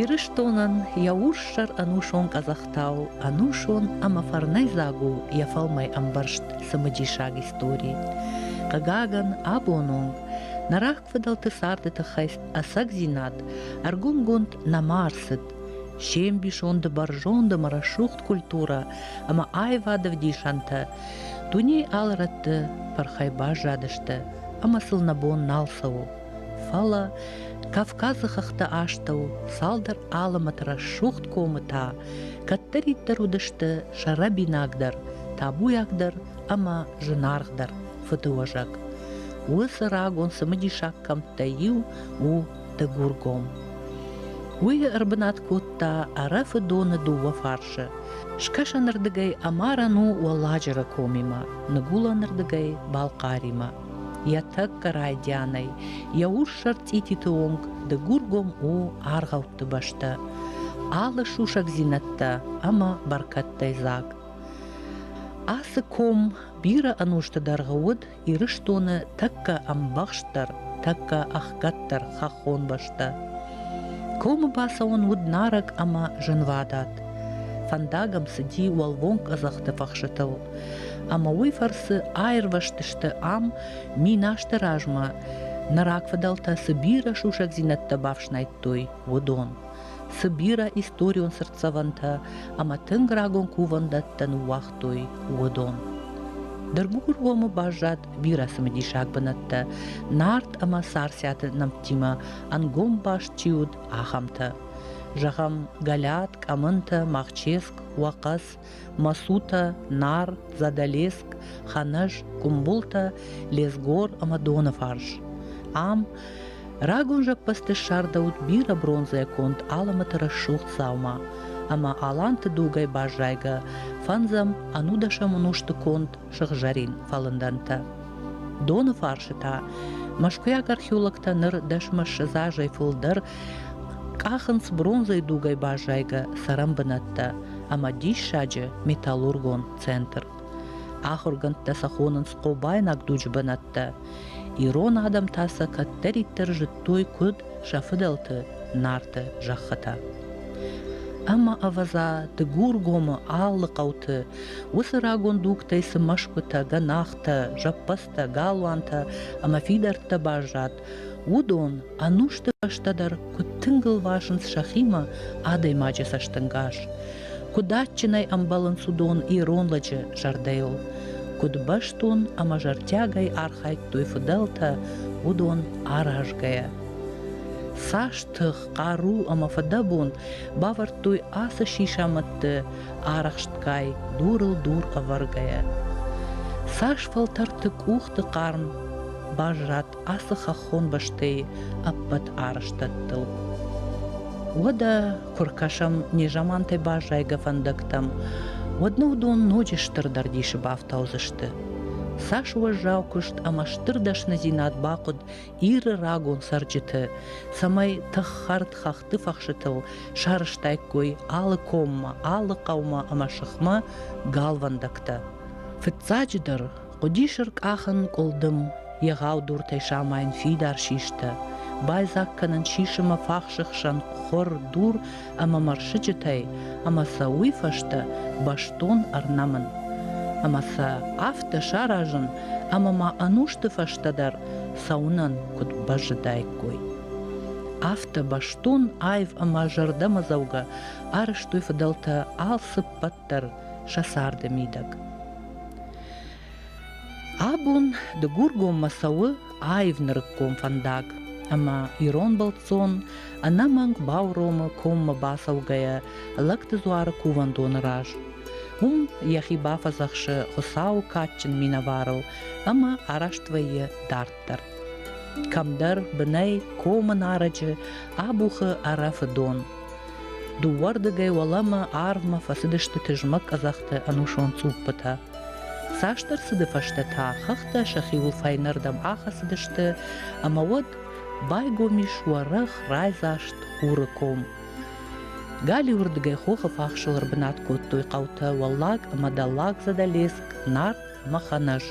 Ирыстонӕн йӕ урссӕр ӕнусон къӕдзӕхтау ӕнусон ӕмӕ фӕрнӕйдзаг у йӕ фӕлмӕй ӕмбӕрзт цымыдисаг истори. Хъыгагӕн, абон онг нӕ рагфыдӕлты царды тыххӕй ӕцӕгдзинад ӕргомгонд нӕма ӕрцыд. се мбисонды бӕрзонды ӕмӕ рӕсугъд культурӕ ӕмӕ аивады вдисӕнтӕ дуне алы рӕтты фӕрхӕй баззадысты. ӕмӕ сыл нӕ бон нал цӕуы. Фӕлӕ Кавказы хӕхты астӕу цалдӕр алымӕты рӕсугъд комы та кӕддӕриддӕр уыдысты сӕрӕбинагдӕр, табуйагдӕр ӕмӕ зынаргъдӕр фыдыуӕзӕг. Уыцы рагон цымыдисаг кӕмттӕй иу у Дыгургом. Уый ӕрбынат кодта Ӕрӕфы доны дыууӕ фарсы. Скӕсӕнырдыгӕй Амаран у Уӕлладжыры комимӕ, ныгуылӕнырдыгӕй Балхъаримӕ. Йӕ тӕккӕ райдианӕй йӕ урссӕр цъититы онг Дыгургом у аргъӕутты бӕстӕ, алы сусӕгдзинӕдтӕ ӕмӕ бӕркӕдтӕй дзаг. Ацы ком бирӕ ӕнусты дӕргъы уыд Ирыстоны тӕккӕ ӕмбӕхстдӕр, тӕккӕ ӕхгӕддӕр хӕххон бӕстӕ. Комы бацӕуӕн уыд нарӕг ӕмӕ зынвадат. Фӕндагам цыди уӕлвонг къӕдзӕхты фӕхсытыл, ӕмӕ уый фӕрцы аирвӕзтысты ам минасты размӕ нӕ рагфыдӕлтӕ цы бирӕ сусӕгдзинӕдтӕ бафснайдтой, уыдон. Цы бирӕ историон цыртдзӕвӕнтӕ ӕмӕ тынг рагон кувӕндӕттӕ ныууагъ кодтой уыдон. Ныр Гугургомы баззад бирӕ цымыдисаг бынӕттӕ, Нарт ӕмӕ Царциаты нӕмттимӕ ӕнгом баст чи уыд, ахӕмтӕ. Зӕгъӕм, Галят, Къӕмынтӕ, Махческ, Уӕхъӕц, Масутӕ, Нар, Задӕлеск, Ханӕз, Къумбултӕ, Лезгор ӕмӕ Доныфарс. Ам Рагон зӕппӕзты ссардӕуыд бирӕ бронзӕгонд алымыты рӕсугъд дзаума, ӕмӕ аланты дугӕй баззайгӕ фӕндзӕм ӕнудӕсӕм ӕнусты конд сыгъзӕрин фӕлындӕнтӕ. Доны фарсы та мӕскуыйаг археологтӕ ныр дӕсмӕ ссӕдз азӕй фылдӕр къахынц бронзӕйы дугӕй баззайгӕ цӕрӕн бынӕттӕ ӕмӕ диссаджы металлургон центр. Ахуыргӕндтӕ сӕ хонынц хъобайнаг дуджы бынӕттӕ – Ирон адӕм та сӕ кӕддӕриддӕр зыдтой куыд сӕ фыдӕлты Нарты зӕххытӕ. Ӕмӕ ӕвӕдза, Дыгургомы алы хъӕуты уыцы рагон дугтӕй цы мӕсгуытӕ, гӕнахтӕ, зӕппӕдзтӕ, галуантӕ ӕмӕ фидӕрттӕ баззад, уыдон ӕнусты фӕстӕ дӕр куыд тынг ыл васынц сӕхимӕ адӕймаджы цӕстӕнгас. Куыд адджынӕй ӕмбӕлынц уыдон ирон лӕджы зӕрдӕйыл, куыд бӕстон ӕмӕ зӕрдиагӕй архайдтой фыдӕлтӕ, уыдон аразгӕйӕ. Цас тых, хъару ӕмӕ фыдӕбон бавӕрдтой ацы сисамӕдты арӕхстгай, дурыл дур ӕвӕргӕйӕ. Цас фӕлтӕрты къухты хъарм баззад ацы хӕххон бӕстӕйы ӕппӕт арӕзтӕдтыл. Уӕдӕ куы ркӕсӕм незамантӕй баззайгӕ фӕндӕгтӕм, уӕд нӕ уыдон ноджы стырдӕр дисы бафтаудзысты. Цас уӕззау куыст ӕмӕ стыр дӕсныдзинад бахъуыд Иры рагон цӕрджыты, цӕмӕй тых хӕрд хӕхты фӕхсытыл сарӕзтаиккой алы коммӕ, алы хъӕумӕ ӕмӕ сыхмӕ галвӕндӕгтӕ. Фыццаджыдӕр, Хъуыдис ӕркъахын къуылдым, егъау дуртӕй самайын фидар систӕ, байдзаг кӕнын сисымы фахсы хсӕн хуыр дур ӕмӕ мӕрсыджытӕй, ӕмӕ сӕ уый фӕстӕ бӕстон ӕрнӕмын. Ӕмӕ сӕ афтӕ саразын, ӕмӕ ма ӕнусты фӕстӕ дӕр цӕуынӕн куыд бӕззыдаиккой. Афтӕ бӕстон аив ӕмӕ зӕрдӕмӕдзӕугӕ арӕзтой фыдӕлтӕ алцыппӕт дарддӕр сӕ царды мидӕг. Абон Дыгургоммӕ цӕуы аив нырыккон фӕндаг, ӕмӕ ирон бӕлццон ӕнӕмӕнг бауромы коммӕ бацӕугӕйӕ лӕгты дзуары кувӕндоны раз. Уым йӕхи бафӕдзӕхсы Хуыцауы кадджын минӕварыл ӕмӕ араст вӕййы дард дарддӕр. Кӕмдӕр бынӕй комы нарӕджы абухы ӕрӕфы дон. Дыууӕрдыгӕй уӕлӕмӕ арвмӕ фӕцыдысты тызмӕг къӕдзӕхты ӕнусон цъуппытӕ. Цасдӕр цыды фӕстӕ та хӕхтӕ сӕхиуыл фӕйнӕрдӕм ахӕцыдысты, ӕмӕ уӕд байгом ис уӕрӕх райдзаст хуры ком. Галиуырдыгӕй хохы фахсыл ӕрбынат кодтой хъӕутӕ Уӕллаг ӕмӕ Дӕллаг Задӕлеск, Нарт махӕн ӕз.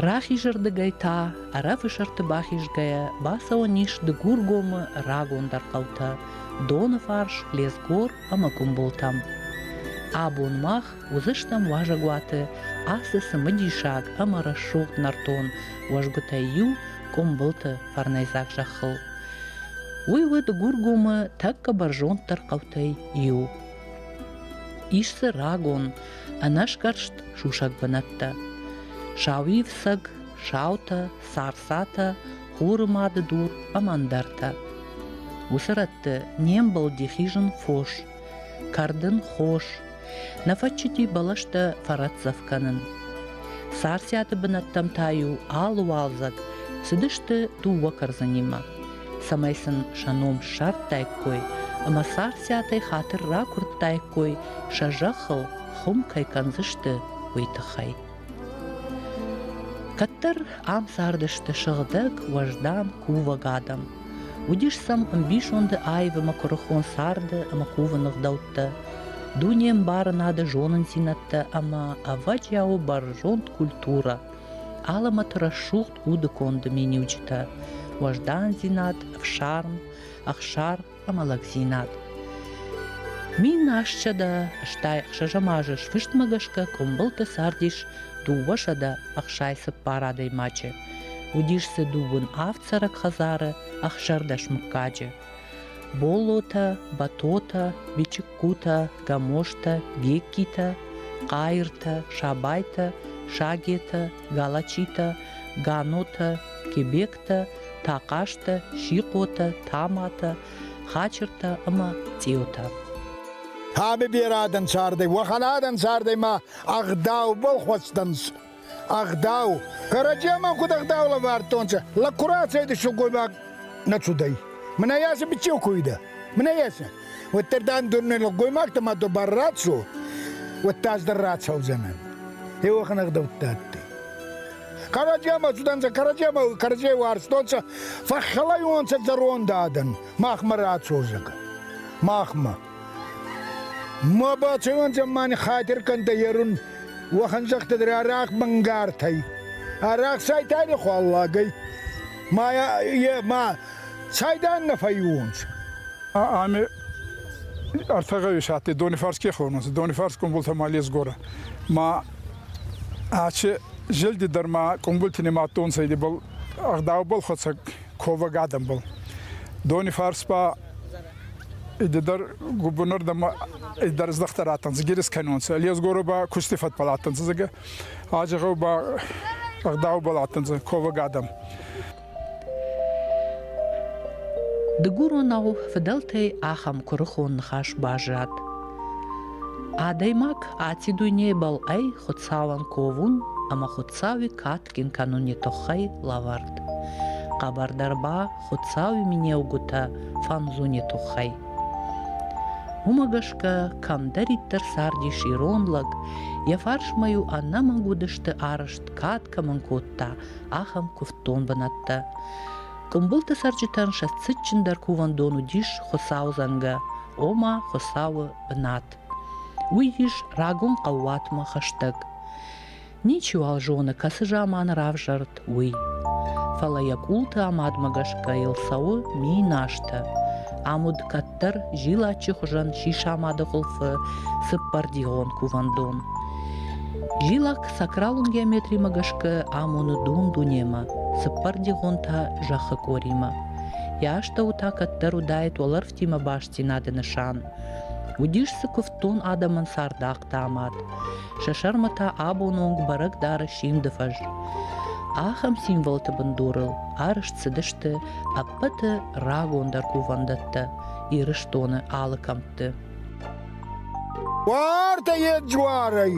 Рахизырдыгӕй та, ӕрӕфысырты бахизгӕйӕ, бацӕуӕн ис Дыгургомы рагондӕр хъӕутӕ Доны фарс, Лезгор ӕмӕ Къуымбылтӕм. Абон мах уыдзыстӕм уазӕгуаты ацы цымыдисаг ӕмӕ рӕсугъд нӕртон уӕзгуытӕй иу Къуымбылты фӕрнӕйдзаг зӕххыл. Уый у Дыгургомы тӕккӕ бӕрзонддӕр хъӕутӕй иу. Ис дзы рагон, ӕнӕсгӕрст сусӕг бынӕттӕ. Сауивсӕг, саутӕ, сарсатӕ, хуры мады дур ӕмӕ ӕндӕртӕ. Уыцы рӕтты не мбылди хизын фос, кӕрдын хос, нӕ фӕччити бӕлӕстӕ фӕрӕтдзӕф кӕнын. Сарсиаты бынӕттӕм та-иу алы уалдзӕг цыдысты дыууӕ кӕрдзынимӕ. цӕмӕй сын сӕ ном ссардтаиккой ӕмӕ царциатӕй хатыр ракуырдтаиккой, сӕ зӕххыл хуым кӕй кӕндзысты, уый тыххӕй. Кӕддӕр ам цардысты сыгъдӕг, уӕздан кувӕг адӕм. Уыдис сӕм ӕмбисонды аив ӕмӕ куырыхон царды ӕмӕ кувыны гъдӕуттӕ, дуне ӕмбарынады зонындзинӕдтӕ ӕмӕ ӕвӕджиауы бӕрзонд культурӕ – Алӕмӕты рӕсугъд уды конды миниуджытӕ уӕздандзинад, ӕфсарм, ӕхсар ӕмӕ лӕгдзинад. Мин асчъӕдӕ, стӕй ӕхсӕзӕмазы сфыстмӕ гӕсгӕ къуымбылты цардис дыууӕсӕдӕ ӕхсай цыппар адӕймаджы. Уыдис дзы дыууын авд цӕрӕг хӕдзары, ӕхсӕрдӕс мыггаджы. Боллотӕ, Батотӕ, Бичыккутӕ, Гамоштӕ, Геккитӕ, Хъайыртӕ, Сабайтӕ, Сагетӕ, Галачитӕ, Ганотӕ, Кебектӕ, Тахъазтӕ, Сихъотӕ, Таматӕ, Хачыртӕ ӕма Цъеутӕ. Таби берӕ адӕнцардӕй, уӕхӕн адӕнцардӕй ма ӕгъдаубӕл хуӕцдӕнцӕ. Ӕгъдау. Кӕрӕдземӕн куд ӕгъдау лӕвардтонцӕ, лӕг ку рацӕйдӕ сылгоймаг нӕ цудӕй. Мӕнӕ еци бичеу ку уидӕ. Мӕнӕ еци. Уӕддӕр дан дурне лӕггоймӕгтӕмӕ ду бар рацу, уӕдта ӕз дӕр рацӕудзӕнӕн. Еуӕхӕн ӕгъдӕуттӕ адтӕй. Кӕрӕдземӕ цудӕнцӕ, кӕрӕдземӕ кӕрӕдзей уарзтонцӕ, фӕххӕлайонцӕ зӕронд адӕн махмӕ рацорзагӕ. Махмӕ. Ма бацӕуӕн зӕммани хатир кӕндӕ ерун, уӕхӕн зӕгтӕдӕр арахъ мӕнгартӕй. Арахъ сайтани хуаллагӕй. Ма, е, ма сайдан нӕ фӕйуонцӕ. Ами ӕртӕгӕвесати Донифарске хонунцӕ. Донифарс къумбултӕ ма лесгорӕ. Ма аче зелди дӕр ма къумбулти нимадтонцӕ идибал ӕгъдаубӕл хуӕцӕг ковӕг адӕмбӕл. Донифарс ба Идедер губунер дама идер здахтар аттан згирис кайнонса. Лезгоро ба кусти фатпал аттан зеге. Аджагау ба агдау бал аттан зе ковагадам. Дыгуронау фыдӕлтӕй ахӕм куырыхон ныхас баззад. Адӕймаг аци дуйнебӕл ӕй хуцауӕн ковун ӕма хуцауи кат фӕткин кӕнуни туххӕй лӕвӕрд. Хъӕбӕрдӕр ба Хуцауи менеугутӕ фӕнзуни туххӕй. Ума гӕсгӕ кӕмдӕриддӕр цардис ирон лӕг, йӕ фарсмӕ-иу ӕнӕмӕнг уыдысты арӕзт кад кӕмӕн кодта, ахӕм куывддон бынӕттӕ. Къуымбылты цӕрджытӕн сӕ цытджындӕр кувӕндон уыдис Хуыцау зӕнгӕ, ома Хуыцауы бынат. Уый ис рагон хъӕууатмӕ хӕстӕг. Ничиуал зоны, кӕцы заманы равзӕрд, уый. Фӕлӕ йӕ къулты амадмӕ гӕсгӕ йыл цӕуы ми назтӕ. Ӕмуд кӕддӕр зилаччы хуызӕн сисамады хуылфы цыппӕрдигъон кувӕндон. Зилак сакралон геометримӕ гӕсгӕ амоны дун-дунемӕ, цыппӕрдигъон та зӕххы къоримӕ. Йӕ астӕу та кӕддӕр уыдаид уӕлӕрвтимӕ бастдзинады нысан. Уыдис дзы куывддон адӕмӕн цардахъ, кодта мад. Сӕ сӕрмӕ та абоны онг бӕрӕг дары симды фӕз. Ахӕм символты бындурыл арызт цыдысты ӕппӕты рагондӕр кувӕндӕттӕ Ирыстоны алы кӕмтты. Уартӕ ед жуарӕй.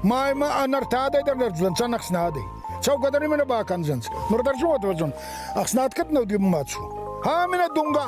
Маймӕ ӕнӕртадӕй дӕр нӕрдзӕн сӕн ӕхснадӕй. Цӕугӕдӕр именно бакӕндзӕнс. Ныр дӕр зиот вӕзон. Ӕхснад кӕд нӕуди мацу. Ха минӕ дунга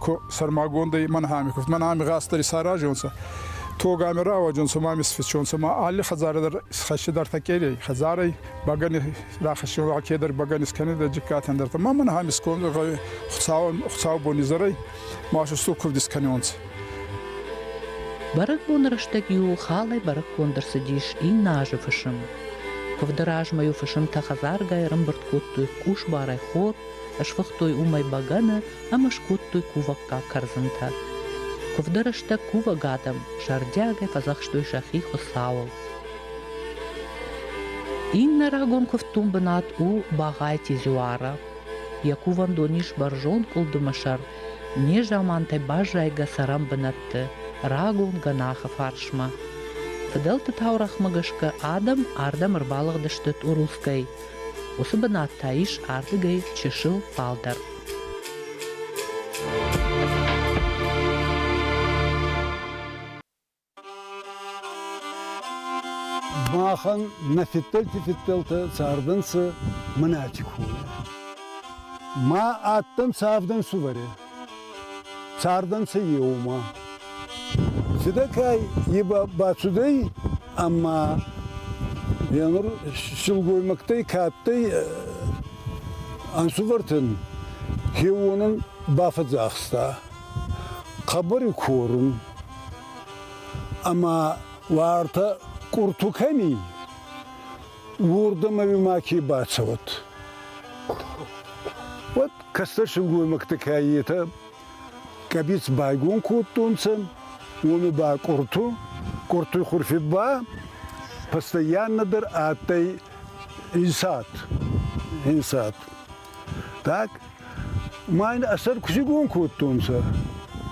ку сӕрмагондӕй мӕн ами кувт мӕн ами гъастдӕр исаразонцӕ тогами рауаджонцӕ ма мисфичонцӕ ма алли хӕдзаре дӕр исхӕссидӕртӕ кӕрей хӕдзарӕй бӕгӕни рахӕссион ва кедӕр бӕгӕн искӕнидӕ джиккатӕн дӕртӕ ма мӕн ами скон хуцау бони зӕрӕй машусту кувд искӕнионцӕ Бӕрӕгбоны рӕстӕг-иу халӕй бӕрӕггонд ӕрцыдис иннӕ азы фысым. Куывды размӕ-иу фысымтӕ хӕдзаргай ӕрӕмбырд кодтой къусбарӕй хор, Сфыхтой уымӕй бӕгӕны ӕмӕ скодтой кувӕггаг кӕрдзынтӕ. Куывды рӕстӕг кувӕг адӕм зӕрдиагӕй фӕдзӕхстой сӕхи Хуыцауыл. Иннӕ рагон куывддон бынат у Багъайти Зуара. Йӕ кувӕндон ис бӕрзонд къуылдымы сӕр, незамантӕй баззайгӕ цӕрӕн бынӕтты, рагон гӕнахы фарсмӕ. Фыдӕлты таурӕгъмӕ гӕсгӕ адӕм ардӕм ӕрбалыгъдысты Тъурусгӕй, Уыцы бынат та ис ардыгӕй чысыл фалдӕр. Махӕн нӕ фидтӕлти фидтӕлтӕ цардӕнцӕ мӕнӕти коле. Ма адтӕнцӕ авдӕнсувӕри. Цардӕнцӕ еумӕ. Цидӕ кӕй е бацудӕй, ӕма е нур силгоймӕгтӕй кӕдтӕй ӕнсувӕртӕн кеуонӕн бафӕдзахста хъӕбӕри корун ӕма уартӕ къурту кӕни, уордӕмӕ ми маке бацӕуӕд. Уӕд кӕстӕр силгоймӕгтӕ кӕйетӕ кабиц байгон кодтонцӕ, уоми ба къурту, къуртуй хурфи ба постоянно дӕр адтӕй инсад. инсад. Так, майн ӕсӕр кусигон кодтонцӕ,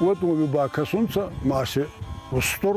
уӕд уоми ба кӕсунцӕ маши устур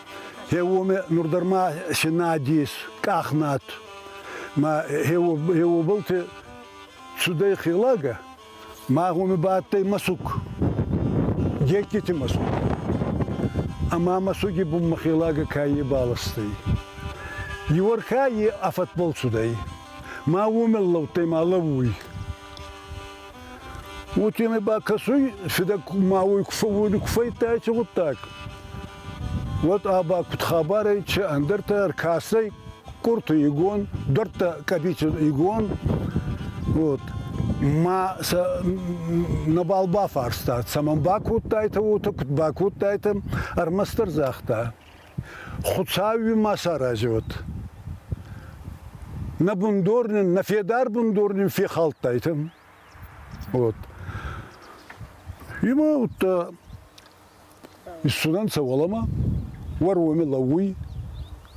Е уоми нур дӕр ма се надес, къахнат. Ма е обылты цудӕй хелагӕ, ма гъоми бадтӕй мӕсуг. Детдити мӕсуг. Ӕма мӕсуги бунмӕ хелагӕ каййи баластӕй. Иуӕрхӕ е афӕтбол цудӕй. Ма уомӕл лӕудтӕй ма лӕууй. Уотемӕй ба кӕсуй, фидӕ ма уой куы фӕййидтайчи гъуддаг, уӕд ӕ ба куд хабарӕй, че ӕндӕртӕ ӕркӕсӕй Курты Игон, дӕрдтӕ Къӕбицин Игон, вот, ма сӕ нӕбал бафарста, цӕмӕн бакодтайтӕ уотӕ, куд бакодтайтӕ, ӕрмӕстдӕр загъта. Хуцауи ма сарази уод. Нӕ бундор нин, нӕ федар бундор нин фехалдтайтӕ. Вот. Има утта исцудӕнцӕ уӕлӕмӕ, уӕрвоми лӕууй,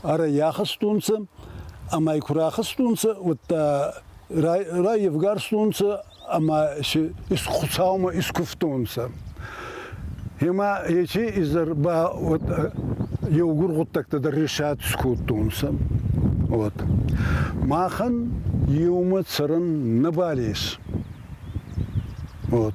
ара яхастонцӕ, ӕма ку рахастонцӕ, удта райевгарстонцӕ ӕма Хуцаумӕ искувтонцӕ. Ема ечи изӕр ба вот, еугур гъуддӕгтӕ дӕр ресӕтс кодтонцӕ. Вот. Махӕн еумӕ цӕрӕн нӕбал ес. Вот.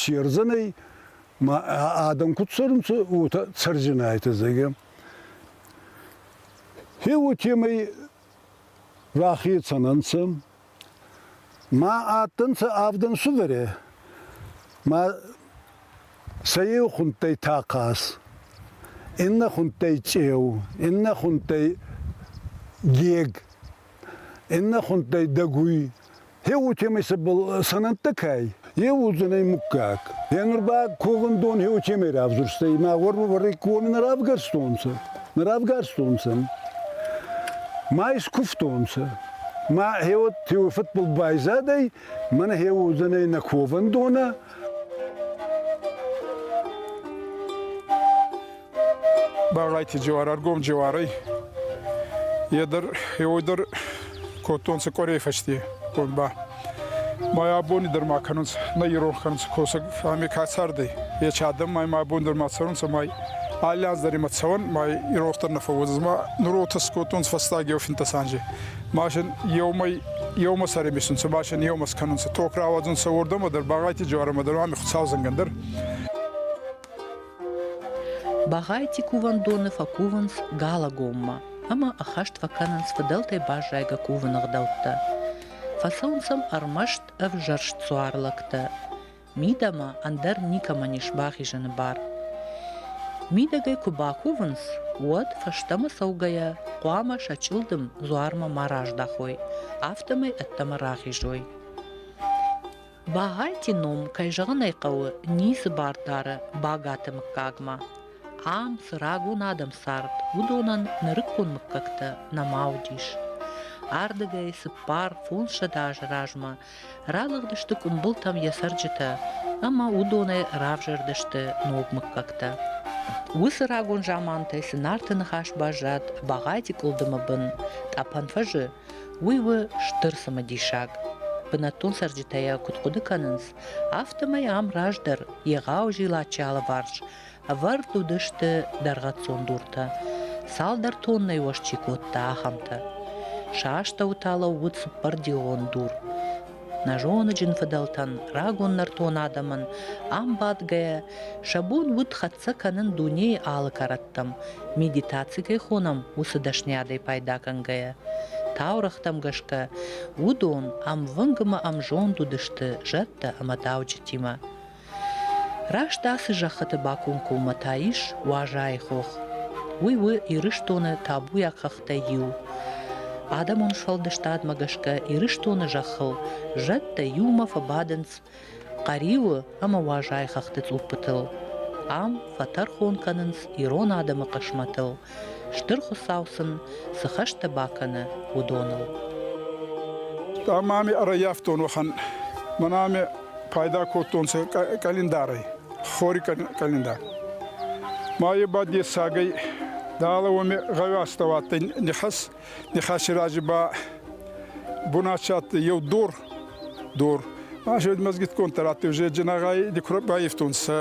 Сердзанӕй ма адӕм куд цӕрунцӕ, уотӕ цӕрдзинайтӕ, зӕгъгӕ. Е уотемӕй рахецӕн ӕнцӕ. Ма адтӕнцӕ авдӕн сударӕ, ма сӕ еу хундтӕй тахъаз, иннӕ хундтӕй чъеу, иннӕ хундтӕй гег, иннӕ хундтӕй дӕгуй, Е уотемӕй цӕбӕл сӕнӕнттӕ кӕй, е уодзӕнӕй муггаг. Е нур ба ковӕндон е уотемӕй равзурстӕй, ма уорвӕвӕрӕй кови нӕ равгарстонцӕ, нӕ равгарстонцӕ. Ма искувтонцӕ. Ма е уотемӕй фӕдбӕл байзадӕй, мӕнӕ е уодзӕнӕй нӕ ковӕндонӕ. Баврайти джуар ӕргом джуарӕй. Е дӕр, еуой дӕр кодтонцӕ къорей фӕсте ком ба. Ма абони дӕр ма кӕнунцӕ, нӕ ирон кӕнунцӕ косӕг, ами ка цардӕй. Ечи адӕм май ма абон дӕр ма цӕрунцӕ, май алли аз дӕр имӕ цӕуӕн, май иронхтӕр нӕ фӕууодзӕн. Ма нуротес кодтонцӕ фӕстаг еу финтӕ санже. Машин еумӕ еумӕ сӕр емисунцӕ, машин еумӕ скӕнунцӕ, ток рауадзунцӕ уордӕмӕ дӕр, Бӕгъайти джуарӕмӕ дӕр, ами Хуцаудзӕнгӕн дӕр. Багъайти кувӕндони фӕкувунс Галагоммӕ ӕма ӕххӕст фӕккӕнунс фидӕлтӕй баззайгӕ кувӕн ӕгъдӕуттӕ. Фӕцӕунс ӕм ӕрмӕст ӕвзӕрст суар лӕгтӕ. Мидӕмӕ ӕндӕр никӕмӕн ес бахизӕни бар. Мидӕгӕй куы бакувынц, уӕд фӕстӕмӕ цӕугӕйӕ хъуамӕ сӕ чъылдым дзуармӕ ма раздахой, афтӕмӕй ӕддӕмӕ рахизой. Багъӕлти ном, кӕй зӕгъын ӕй хъӕуы, ницы бар дары Багаты мыггагмӕ. Ам цы рагон адӕм цард, уыдонӕн нырыккон мыггӕгтӕ нӕма уыдис. Ардыгӕй цыппар фондзсӕдз азы размӕ ралыгъдысты къуымбылтӕм йӕ цӕрджытӕ ӕмӕ уыдонӕй равзӕрдысты ног мыггӕгтӕ. Уыцы рагон замантӕй цы нарты ныхас баззад Багъӕти къуылдымы бын, тъӕпӕн фӕзы Уый у стыр цымыдисаг. Бынӕттон цӕрджытӕ йӕ куыд хъуыды кӕнынц, афтӕмӕй ам раздӕр егъау зилаччы алыварс ӕвӕрд уыдысты дӕргъӕццон дуртӕ. Цалдӕр тоннӕйы ос чи кодта, ахӕмтӕ. Сӕ астӕуы та лӕууыд цыппӕрдион дур. Нӕ зоныджын фыдӕлтӕн, рагон нӕртон адӕмӕн ам бадгӕйӕ, сӕ бон уыд хӕццӕ кӕнын дунейы алы кӕрӕттӕм, медитаци кӕй хонӕм, уыцы дӕсныйадӕй пайдагӕнгӕйӕ. Таурӕгътӕм гӕсгӕ, уыдон ӕмвынг ӕмӕ ӕмзонд уыдысты зӕдтӕ ӕмӕ дауджытимӕ. Раст ацы зӕххыты бакомкоммӕ та ис Уазайы хох. Уый у Ирыстоны табуйаг хӕхтӕй иу. Адӕмон сфӕлдыстадмӕ гӕсгӕ Ирыстоны зӕххыл зӕдтӕ иумӕ фӕбадынц Хъӕриуы ӕмӕ Уазайы хӕхты цъуппытыл. Ам фӕтӕрхон кӕнынц ирон адӕмы хъысмӕтыл, Стыр Хуыцау сын цы хӕстӕ бакӕны, уыдоныл. Ӕма ами ӕрӕййафтон уӕхӕн. Мӕнӕ ами пайда кодтонцӕ къӕлиндарӕй, хори къӕлиндар. Ма е ба дессагӕй, дала уоми гъӕуастӕ адтӕй нихӕс, Ныхасы разы ба бон адсадтӕй еу дор, дор. Азӕд мӕзгитгондтӕ раттеу зеджинагай байефтонцӕ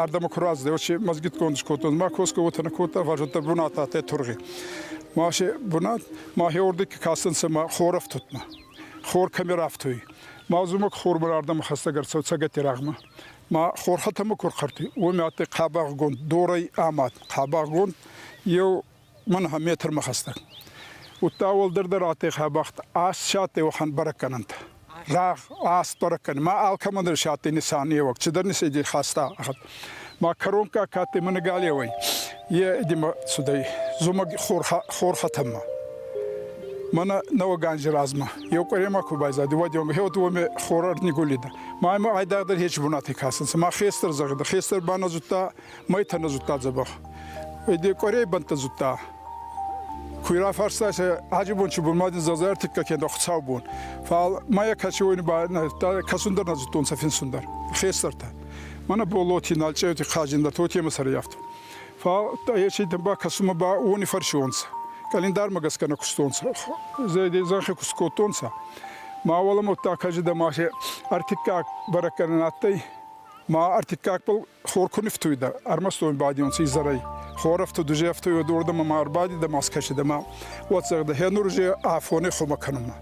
ардӕмӕ ку раздӕй, уочи мӕзгитгонд скодтон. Ма косгӕ уотӕ нӕ кодта, варзуттӕ бунат адтӕй тургъи. Масе бунат, махе ордик кӕсӕнцӕ ма хорӕфтутмӕ. Хор кӕмӕ рафтуй. Ма зумӕг хормӕ ардӕмӕ хӕстӕг ӕрцӕу цӕгати рагъмӕ. Ма хорхӕтӕмӕ ку рхӕртуй, уоми адтӕй хъӕбагъгонд дорӕй амад. Хъӕбагъгонд еу Мӕн ӕхе метрмӕ хӕстӕг. Удта уӕлдӕрдӕр адтӕй хабӕхт, ас си адтӕй уӕхӕн бӕрӕггӕнӕнтӕ. Рагъ, ас бӕрӕггӕнӕн. Ма алкӕмӕн дӕр си адтӕй нисанеуӕг, цидӕр нисейдей хаста. Ма кӕронкка ка адтӕй ма галеуӕй, е идемӕ цудӕй зумӕг хорхӕтӕммӕ. Мӕнӕ нӕуӕг анзи размӕ. Еу къуӕремӕ ку байзадӕй, уӕдеуӕмӕ хеуӕдеуӕмӕ хора ӕрнигулидӕ. Ма ӕма айдагъдӕр еци бунатӕй кӕсӕнцӕ. Ма хестӕр зӕгъидӕ. Хестӕр ба нӕ зудта майтӕ нӕ зудта дзӕбӕх. Де къуӕрей бӕнттӕ зудта. Куй рафарста се Хадзибончи бон ма дин зазайар тикка кенда хуцау бон. Фал мая кӕчи уойни ба кӕсун дӕр нӕ зудтонцӕ финсун дӕр. Хестӕртӕ. Мӕнӕ болоти, налчъеути Хадзин, тотемӕ сӕрӕй афтӕ. Фал ечи ба кӕсунмӕ ба уони фӕрсионцӕ. Календармӕ гӕсгӕ нӕ кустонцӕ. Зӕйдей зӕнхи куст кодтонцӕ. Ма уӕлӕмӕттӕ кажи дӕ ма се ӕртиккаг бӕрӕггӕнӕн адтӕй. Ма ӕртиккагбӕл Хор ку нифтуйдӕ, ӕрмӕстон бадионци изӕрӕй. Хор ӕфту дужефтуй уодордӕмӕ ма ӕрбадидӕ ма скӕсидӕмӕ, уотсӕгдӕ хенур же афоне хумӕ кӕнунмӕ.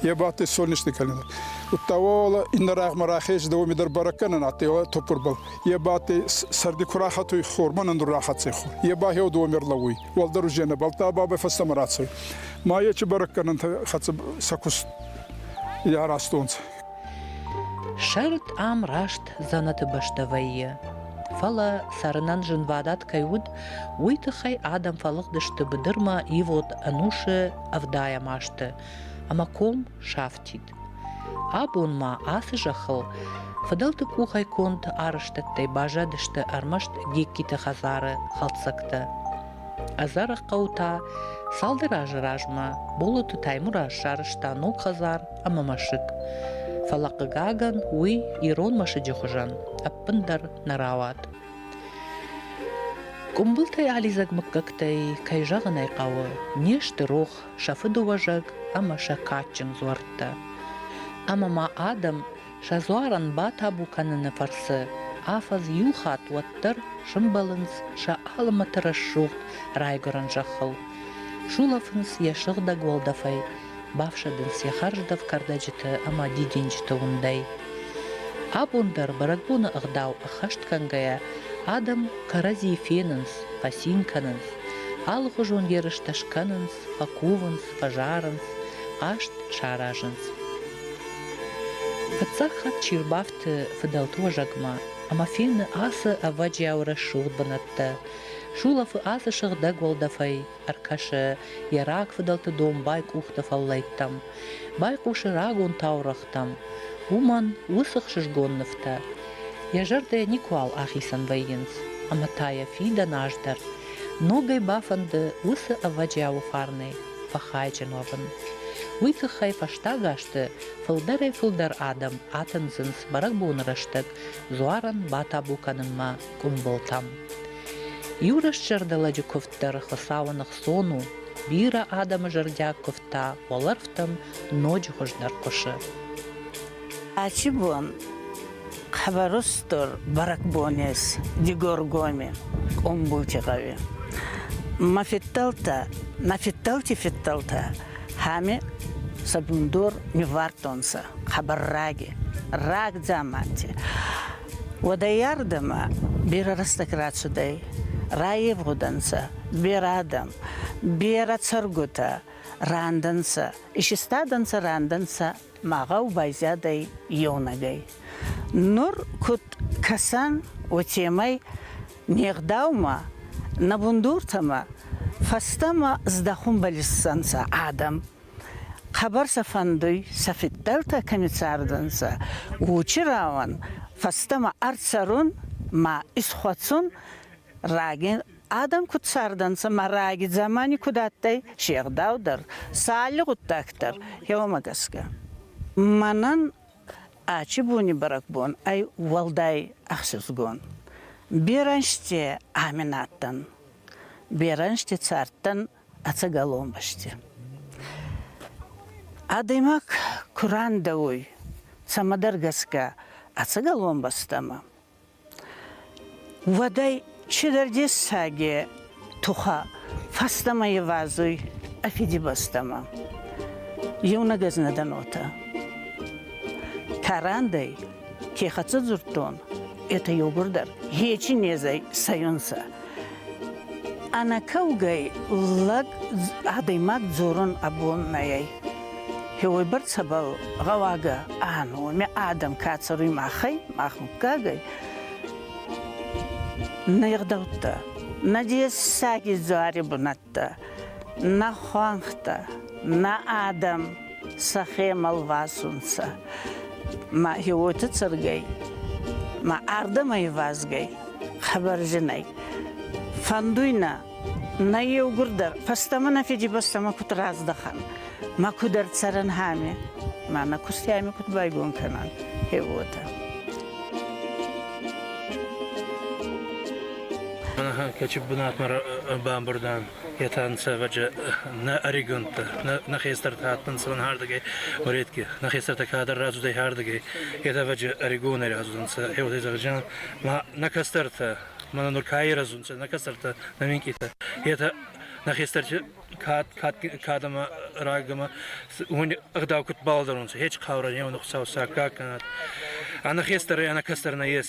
Е бадтӕй солнечный календарь. Удта уола иннӕ рагъмӕ рахез, да уоми дӕр бӕрӕггӕнӕн адтӕй уӕ топпурбӕл. Е бадтӕй сӕрди ку рахатуй хормӕ, нандур рахӕццӕй хур. Е ба хеу дууӕ мер лӕууй. Уӕлдӕр узе нӕ бӕлдта бабӕй фӕстӕмӕ рацӕуй. Ма ечи бӕрӕггӕнӕнтӕ хӕццӕ сӕ куст яразтонцӕ. Сӕрд ам раст дзӕнӕты бӕстӕ вӕййы. Фӕлӕ цӕрынӕн зынвадат кӕй уыд, уый тыххӕй адӕм фӕлыгъдысты быдырмӕ ивод ӕнусы ӕвдайӕм азты ӕмӕ ком сафтид. Абон ма ацы зӕххыл фыдӕлты къухӕй конд арӕзтӕдтӕй баззадысты ӕрмӕст Гегкиты хӕдзары хӕлцӕгтӕ. Ӕдзӕрӕг хъӕу та цалдӕр азы размӕ Болоты Таймураз сарӕзта ног хӕдзар ӕмӕ мӕсыг. Фӕлӕ, хъыгагӕн, уый ирон мӕсыджы хуызӕн ӕппындӕр нӕ рауад. Къуымбылтӕй алидзӕг мыггӕгтӕй, кӕй зӕгъын ӕй хъӕуы, не сты рох сӕ фыдыуӕзӕг ӕмӕ сӕ кадджын дзуӕрттӕ. Ӕмӕ ма адӕм Сӕ дзуарӕн батабу кӕныны фӕрцы афӕдз иу хатт уӕддӕр сымбӕлынц сӕ алымӕты рӕсугъд райгуырӕн зӕххыл, сулӕфынц йӕ сыгъдӕг уӕлдӕфӕй, бафсӕдынц йӕ хӕрздӕф кӕрдӕджыты ӕмӕ дидинджыты уындӕй. Абон дӕр бӕрӕгбоны ӕгъдау ӕххӕст кӕнгӕйӕ адӕм кӕрӕдзийы фенынц, фӕцин кӕнынц, алыхуызон ерыстӕ скӕнынц, фӕкувынц, фӕзарынц, хъазт саразынц. Фыццаг хатт чи рбафты фыдӕлты уӕзӕгмӕ, ӕмӕ фены ацы ӕвӕджиау рӕсугъд бынӕттӕ. Сулӕфы ацы сыгъдӕг уӕлдӕфӕй, ӕркӕсы йӕ раг фыдӕлты домбай къухты фӕллӕйттӕм, байхъусы рагон таурӕгътӕм. Уымӕн уыцы хсызгон нывтӕ йӕ зӕрдӕйӕ никуал ахицӕн вӕййынц, ӕмӕ та йӕ фидӕн аз дӕр ногӕй бафӕнды уыцы ӕвӕджиауы фарнӕй фӕхайджын уӕвын. Уый тыххӕй фӕстаг азты фылдӕрӕй-фылдӕр адӕм атындзынц бӕрӕгбоны рӕстӕг дзуарӕн батабу кӕнынмӕ къуымбылтӕм. Иу рӕстзӕрдӕлӕджы куывд дӕр Хуыцауы ныхцон у. Бирӕ адӕмы зӕрдиаг куывдтӕ уӕлӕрвтӕм ноджы хуыздӕр хъуысы. Ачи бон Хӕвӕрустур бӕрӕгбонес Дигоргоми Къумбулти гъӕуи ма федтӕлтӕ, на федтӕлти федтӕлтӕ хами сабундор ниввардтонцӕ хабар раги, рагдзаманти. Уодайӕрдӕмӕ берӕ рӕстӕг рацудӕй, райевгъудӕнцӕ берӕ адӕм, берӕ цӕргутӕ рандӕнцӕ, исистадӕнцӕ рандӕнцӕ Мӕгъӕл байзадӕй еунӕгӕй. Нур куд кӕсӕн, уотемӕй не гъдаумӕ, нӕ бундуртӕмӕ фӕстӕмӕ здӕхунбӕл иссӕнцӕ адӕм. Хъӕбӕр сӕ фӕндуй, сӕ фидтӕлтӕ кӕми цардӕнцӕ, учи рауӕн, фӕстӕмӕ ӕрцӕрун ма исхуӕцун Раги адӕн куд цардӕнцӕ ма раги дзамани куд адтӕй, се гъдау дӕр, сӕ алли гъуддаг дӕр, еуӕмӕ гӕсгӕ. Мӕнӕн ачи буни бӕрӕгбон ӕй уӕлдай ӕхсӕзгон. Берӕнзти ами на адтӕн. Берӕнзти цардтӕн ӕцӕгӕл онбӕсти. Адӕймаг ку рандӕ уй, цӕмӕдӕр гӕсгӕ, ӕцӕгӕл онбӕстӕмӕ, Уӕдӕй чидӕр дессаги тухӕ фӕстӕмӕ ивазуй ӕ Фидибӕстӕмӕ. Еунӕг ӕз нӕ дӕн уотӕ. Карандӕй ке хӕццӕ дзурдтон, етӕ еугурдӕр хечи незӕй цӕйунцӕ. Ӕнӕкӕугӕй лӕг адӕймаг дзорун абон нӕй. Хеуойбӕрцӕбӕл гъӕуагӕ ӕнуӕмӕ адӕм ка цӕруй махӕй, мах муггагӕй, нӕ егъдӕуттӕ, нӕ дессаги дзуари бунӕттӕ, нӕ хуӕнхтӕ, нӕ адӕм сӕхе мӕлвасунцӕ. Ма еуоти цӕргӕй, ма ардӕмӕ ивазгӕй хабар зинӕй. Фӕндуй нӕ, нӕ еугурдӕр фӕстӕмӕ нӕ Фидибӕстӕмӕ куд раздӕхан, ма куд ӕрцӕрӕн хами, ма нӕ кустӕми куд байгон кӕнан, е уотӕ. Кӕчи бунатмӕ бамбурдан етӕ ӕнсӕвӕджи нӕ ӕригонтӕ, нӕ хестӕртӕ адтӕнцӕ ардыгӕй, Уретки, нӕ хестӕртӕ кадӕр рацудӕй ардыгӕй, етӕвӕджи ӕригонӕй рацудӕнцӕ, еуӕтӕй зӕгъӕн зӕгъӕн, ма нӕ кӕстӕртӕ, мӕнӕ нур ка ирӕзунцӕ, нӕ кӕстӕртӕ, нӕ минкъитӕ, етӕ нӕ хестӕрти кадӕмӕ рагӕмӕ уони ӕгъдау куд балӕдӕрунцӕ, хеч хъаурӕн еуӕн Хуцау саккаг кӕнӕд. Ӕнӕ хестӕрӕй, ӕнӕ кӕстӕр нӕ ес.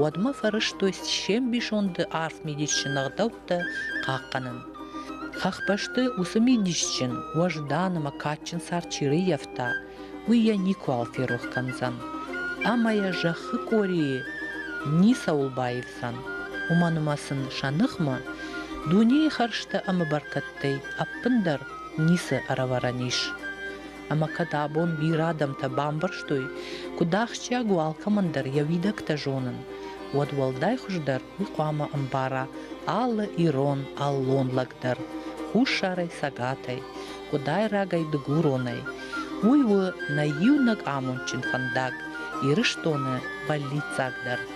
уӕдмӕ фӕрӕзтой се мбисонды арф мидисджын ӕгъдӕуттӕ хъахъхъӕнын. Хӕхбӕсты уыцы мидисджын, уӕздан ӕмӕ кадджын цард чи рыййӕфта, уый йӕ никуыуал ферох кӕндзӕн. Ӕмӕ йӕ зӕххы къорийы ницӕуыл баивдзӕн. Уымӕн ӕмӕ сын сӕ ныхмӕ дунейы хӕрзтӕ ӕмӕ бӕркӕдтӕй ӕппындӕр ницы ӕрӕвӕрӕн ис. ӕмӕ кӕд абон бирӕ адӕмтӕ бамбӕрстой, куыд ахсджиаг у алкӕмӕн дӕр йӕ уидӕгтӕ зонын, уӕд уӕлдай хуыздӕр уый хъуамӕ ӕмбара алы ирон, аллон лӕг дӕр, хуссарӕй, цӕгатӕй, къуыдайрагӕй, дыгуронӕй. Уый у нӕ иунӕг амондджын фӕндаг, Ирыстоны бӕллиццагдӕр.